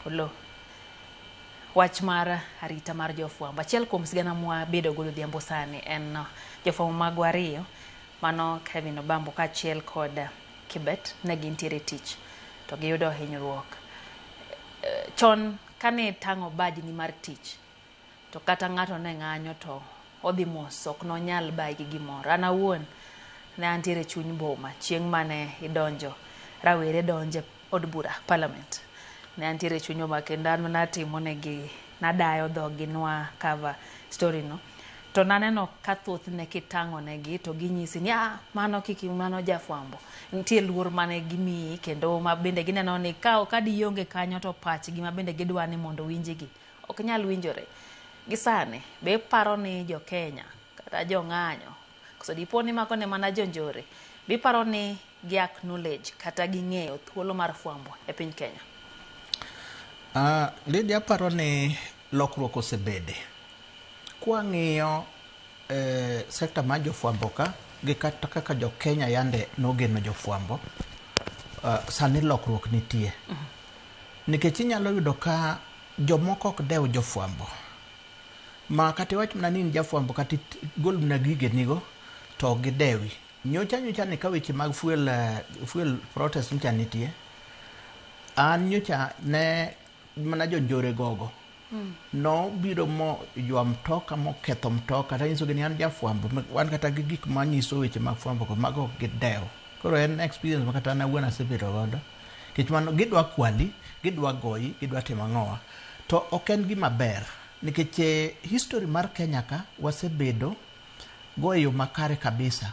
Oloo. Wach mar arita mar jofwambo. Achiel kuom sigana mwa bedo godo odhiambo sani en uh, jofwambo magwa ariyo mano Kevin Obambo kaachiel kod uh, Kibet ne gintiere e tich to giyudo hinyruok. Eh, Chon kane itang'o bajni mar tich To kata ng'ato ne ng'anyo to odhi mos ok nonyal bayi gi gimoro. An awuon ne antiere chuny boma chieng' mane idonjo rawere donje od bura parliament. Ne antiere chuny boma kendo an natimo negi nadayo dhogi nwa cover story no. To naneno ka thothne kitang'o negi to ginyisi ni ah mano kik mano jafwambo. Nitie luor mane gimiyi kendo ma bende gineno ni ka ka di ionge kanyo to pachgi ma bende gidwa ni mondo owinjigi Ok nyal winjore. Gi sani, be iparo ni jo Kenya kata jo ng'anyo, koso dipo ni mago ne mana jo njore, be iparo ni gi acknowledge kata ging'eyo thuolo mar fwambo e piny Kenya? Uh, Lydia aparo ni lokruok osebede. Kwang'iyo eh, sekta mar jofwambo ka gi kata kaka jo Kenya yande nogeno jofwambo, uh, sani lokruok nitie. Mm -hmm. Nikech inyalo yudo ka jomoko ok dew jofwambo ma kata iwach mana ni in jafwambo kata igol mana gigenigo to ok gidewi. Nyocha nyocha ni ka weche mag fuel, eh, fuel protest nyocha nitie, an nyocha ne mana jonjore gogo. nobiro mo ywa mtoka moketho mtoka tanyisogi ni an jafwambo wan kata gi gik manyiso weche mag fwambo go mago ok gidew koro en experience ma kata an awuon asebedo godo nikech mano gidwa kwali gidwa goyi gidwa timo ang'owa to ok en gima ber nikech eh, history mar kenya ka wasebedo go e yo makare kabisa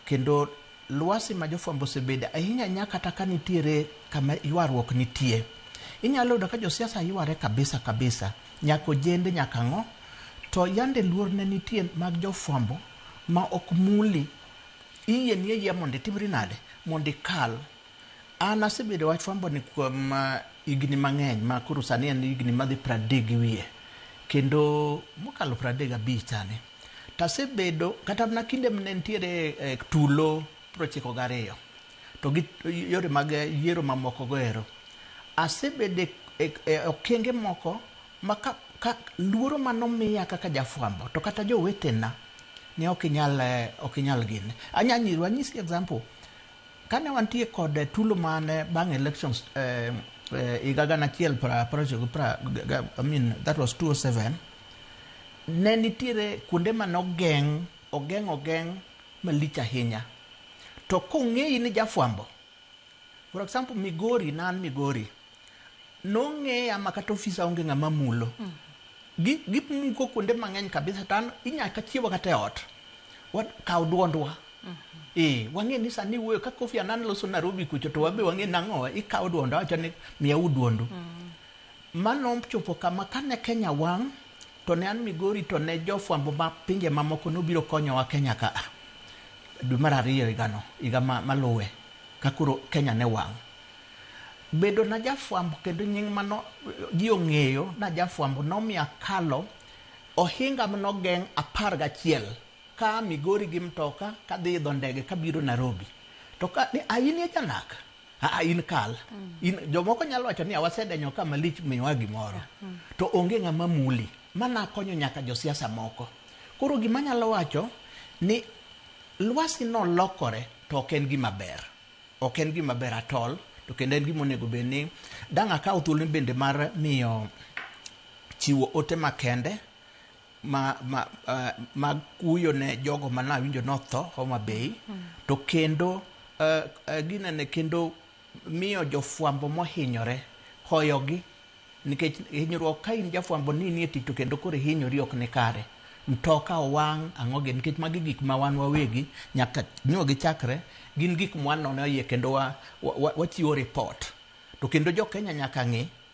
Kendo lwasi ma jofwambo osebede ahinya nya kata ka nitiere kama ywaruok nitie. Inyalo yudo ka josiasa yware kabisa kabisa, nyaka ojende nyaka ang'o, to yande luor ne nitie mag jofwambo ma ok muli, iyieni ayiya mondo itimri nade, mondo ikal. An asebedo wach fwamboni kuom higni mang'eny ma koro sani en higni madhi pradek gi wiye, kendo mokalo pradek gabich sani. To asebedo kata mana kinde mane nitiere eh, tulo piero ochiko gariyo to gi yore mag yiero mamoko go ero asebedo e- e- e okenge moko ma ka, ka luoro manomiya kaka jafwambo to kata jowetena ne ok inyal eh, ok inyal gini anya nyiru anyisi example kane wantie kod eh, tulo mane bang elections eh, eh, higa gana achiel pra- pra- ochiko pra- ga- ga- I mean, that was 207 Ne nitiere kuonde mane ogeng', ogeng' ogeng' malich ahinya. To kong'eyi ni jafwambo, for example Migori, ne an Migori, nong'eya ma kata ofisa onge ng'ama mulo. Gi gimuko kuonde mang'eny kabisa to an inya kachiewa kata e ot, wa kaw duondwa. Ee, wang'e ni sani iwuoyo ka Kofi Annan loso Narobi kucho to wabe wang'e ni nang'owa, ikaw duondwa, awacho ni miyauru duondu. Ma nochopo kama, kane Kenya wang' to ne an Migori to ne jofwambo ma pinje mamoko nobiro konyowa Kenya ka a. Dwe mar ariyo higano, higa maluwe ka koro Kenya ne wang'. Bedona jafwambo kendo nying' ma ji ong'eyo na jafwambo nomiyo akalo ohinga mane ogeng' apar gachiel ka a Migori gi mtoka kadhi idho ndege kabiro Narobi. To ka ni a in e janak? Aa, in kal in jomoko nyalo wacho ni awasedenyo ka malich miwa gimoro to onge ng'ama muli mana konyo nyaka josiasa moko koro gima nyalo wacho ni lwasi no lokore to ok en gima ber ok en gima ber atol to kendo en gima onego bed ni dang' akaw thuolo bende mar miyo chiwo ote makende ma, ma, uh, mag kuyo ne jogo ma nawinjo notho Homa Bay to kendo uh, uh, ginene kendo miyo jofwambo mohinyore hoyogi nikech hinyruok ka in jafwambo ni nie tich to kendo koro ihinyori ok ni kare mtoka owang' ang'oge nikech magi gik ma wan wawegi nyaka nyo gichakre gin gik mwanono iye kendo wachiwo wa, wa, wa ripot to kendo jo Kenya nyaka ng'e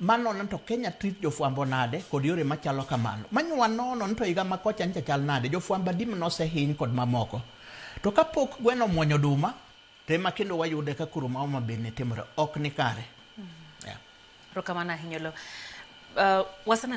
Manono to Kenya treat jofwambo nade kod yore machalo kamano. Many wanono ni to higa ma kocha ncha chal nade, jofwambo adi mane osehiny kod mamoko. To kapok gweno omwonyo oduma to ema kendo wayude ka koro ma Homa Bay ne timore. Ok nikare. Yeah. Erokamano ahinya Oloo. Uh, waseneno